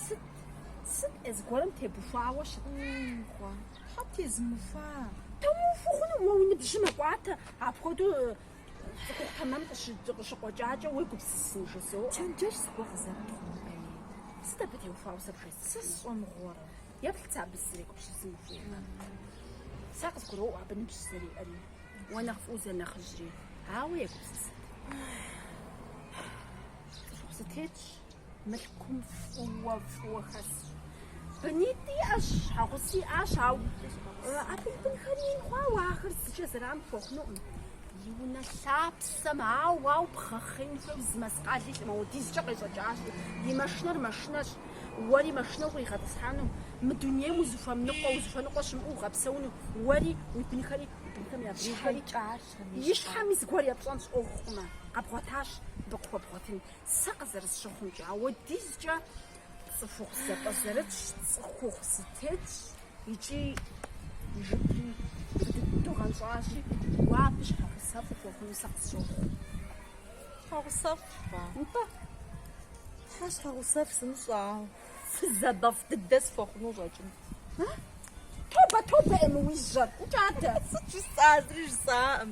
Сыт? Сыт ӏей зыгуэрым тебухуауэ щытхъуа? Тхьэ тезмыухуа? Тумыухуэу хъуну, уэ уи ныбжьыр мэкӏуатэ, апхуэдэу цӏыху тэмэм къыщыкъуэкӏакӏэ уегупсысын жызоӏэ. Чэнджэщ зыгуэр къызэрытхъумэри, сыт абы теухуауэ сэ бжесӏэн? Сэ сщӏэ мыгъуэрэ? Еплъ сэ абы сызэрегупсысым ухуеймэ. Сэ къызгуроӏуэ абы ныбжь зэриӏэри, уэ нэхъ фӏыуэ зэнэхъыжьри, ауэ егупсысыт. Цӏыхухъу зэтетщ. мылъкум фӏыуэ-фӏыуэ хэсщ. Бынитӏ иӏэщ, щхьэгъуси иӏащ, ауэ абы и бынхэри ин хъуауэ ахэр зыкӏэ зэран пхуэхъунукъым. И унэ лъапсэм ауэ-ауэ бгъэхъеин хуейуэ зы мэскъали илъӏым, ауэдизкӏэ къещӏэкӏащ. И машинэр машинэщ, уэри машинэ укъигъэтӏысхьэну, мы дунейм узыхуэмыныкъуэ, узыхуэныкъуэ щымыӏэу угъэпсэуну, уэри, уи бынхэри, уи бынхэм я бынхэри. И щхьэми зыгуэр епщӏэнщ ӏуэхукъымэ, къэбгъуэтащ, дыкъыхуэбгъуэтынт. Сэ къызэрысщыхъумкӏэ, ауэдизкӏэ цӏыхухъу зэпӏэзэрытщ, цӏыхухъу зэтетщ икӏи, жыпри быдэу гъэнщӏащи, уэ абы щхьэгъусэфӏ ухуэхъуну сэ къысщохъу. Щхьэгъусэфӏ? Нтӏэ, Тхьэ щхьэгъусэфӏ сымыщӏэ, ауэ фызабэфӏ дыдэ сыхуэхъуну щӏэкӏынт. Тобэ, тобэ, ӏей, мы уи жьэр ӏукӏатэ! Сыт жысӏа, зыри жысӏаӏым.